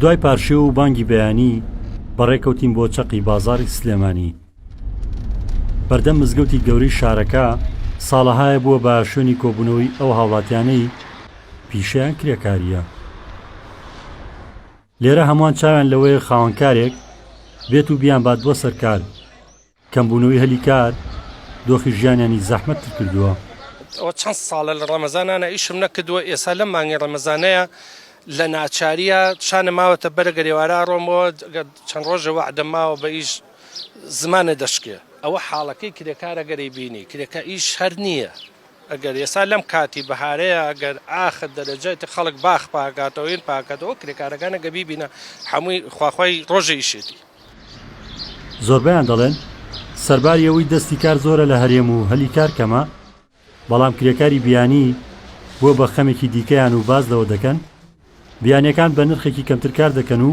دوای پارشێو و بانگی بەیانی بەڕێکەوتین بۆ چەقی بازاری سلێمانی بەردەم مزگەوتی گەوری شارەکە ساڵەهایە بووە بە شوێنی کۆبوونەوەی ئەو هاوڵاتیانەی پیشیان کرێکاریە لێرە هەمووان چاویان لەوەیە خاوەنکارێک بێت و بیان با دووە سەرکار کەمبوونەوەی هەلی کار دۆخی ژیانیانی زەحمەت تر کردووە. ئەوە چەند ساڵە لە ڕەمەزانانە ئیشم نەکردووە ئێسا لەم مانگەی ڕەمەزانەیا لە ناچاریا شانم ماوەتە بەرە گەرێوارە ئەڕۆمەوە گەر چەند ڕۆژە وەعدم ماوە بە ئیش زمانە دەشکێ ئەوە حاڵەکەی کرێکار ئەگەری بینی کرێکا ئیش هەر نییە گەر ئێسا لەم کاتی بەهارەیا گەر ئاخر دەرەجە تە خەڵک باخ پاکاتەوە هین پاکاتەوە ئەو کرێکارەکانە گە بیبینە حەمووی خواخوای ڕۆژی ئیشێتی زۆربەیان دەڵێن سەرباری ئەوەی دەستی کار زۆرە لە هەرێم و هەلی کار کەمە، بەڵام کرێکاری بیانی بووە بە خەمێکی دیکەیان و باس لەوە دەکەن، بیانییەکان بە نرخێکی کەمتر کار دەکەن و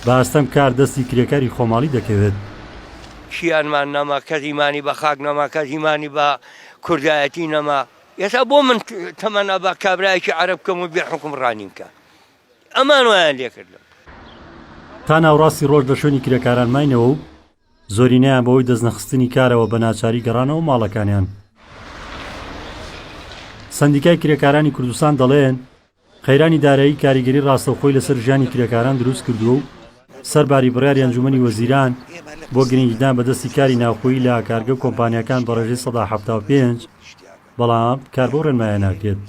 بە ئەستەم کار دەستی کرێکاری خۆماڵی دەکەوێت. کیانمان نەما کەس ئیمانی بە خاک نەما کەس ئیمانی بە کوردایەتی نەما ئێستا بۆ من تەمەنا بە کابرایەکی عەرەب کەم و بێ حوکم ڕانیم کە. ئەمان وایان لێکردن. تا ناوەڕاستی ڕۆژ لە شوێنی کرێکاران ماینەوە و زۆرینەیان بەهۆی دەستنەخستنی کارەوە بە ناچاری گەڕانەوە ماڵەکانیان. سەندیکای کرێکارانی کوردستان دەڵێن، قەیرانی دارایی کاریگەری ڕاستەوخۆی لەسەر ژیانی کرێکاران دروست کردووە و سەرباری بڕیاری ئەنجوومەنی وەزیران بۆ گرنگیدان بە دەستی کاری ناوخۆیی لە کارگە و کۆمپانیاکان بە ڕێژەی سەدا حەفتا و پێنج، بەڵام کار بەو ڕێنمایە ناکرێت.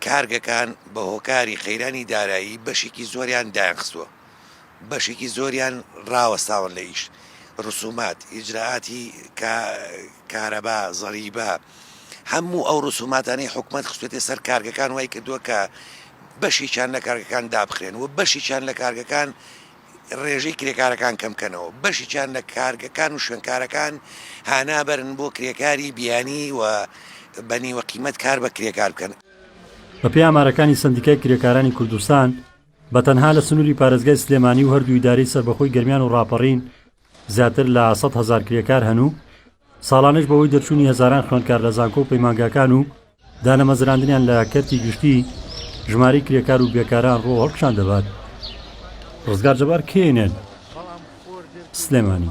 کارگەکان بە هۆکاری قەیرانی دارایی بەشێکی زۆریان دایانخستووە، بەشێکی زۆریان راوەستاون لە ئیش، رسومات، ئیجرائاتی کارەبا، زەریبە، هەموو ئەو رسوماتانەی حکومەت خستووەتە سەر کارگەکان وایکردووە کە بەشێکیان لە کارگەکان دابخرێن و بەشێکیان لە کارگەکان ڕێژەی کرێکارەکان کەمکەنەوە، بەشیکیان لە کارگەکان و شوێنکارەکان هانا بەرن بۆ کرێکاری بیانی و بە نیوە قیمەت کار بە کرێکار بکەن. بەپێی ئامارەکانی سەندیکای کرێکارانی کوردستان، بە تەنها لە سنووری پارێزگای سلێمانی و هەردوو ئیدارەی سەربەخۆی گەرمیان و ڕاپەڕین زیاتر لە سەد هەزار کرێکار هەن و ساڵانەش بەهۆی دەرچوونی هەزاران خوێندکار لە زانکۆ و پەیمانگاکان و دانەمەزراندنیان لە کەرتی گشتی ژماری کرێکار و بێکاران ڕۆ هەڵکشان دەبات ڕزگار جەبار کێنێن سلێمانی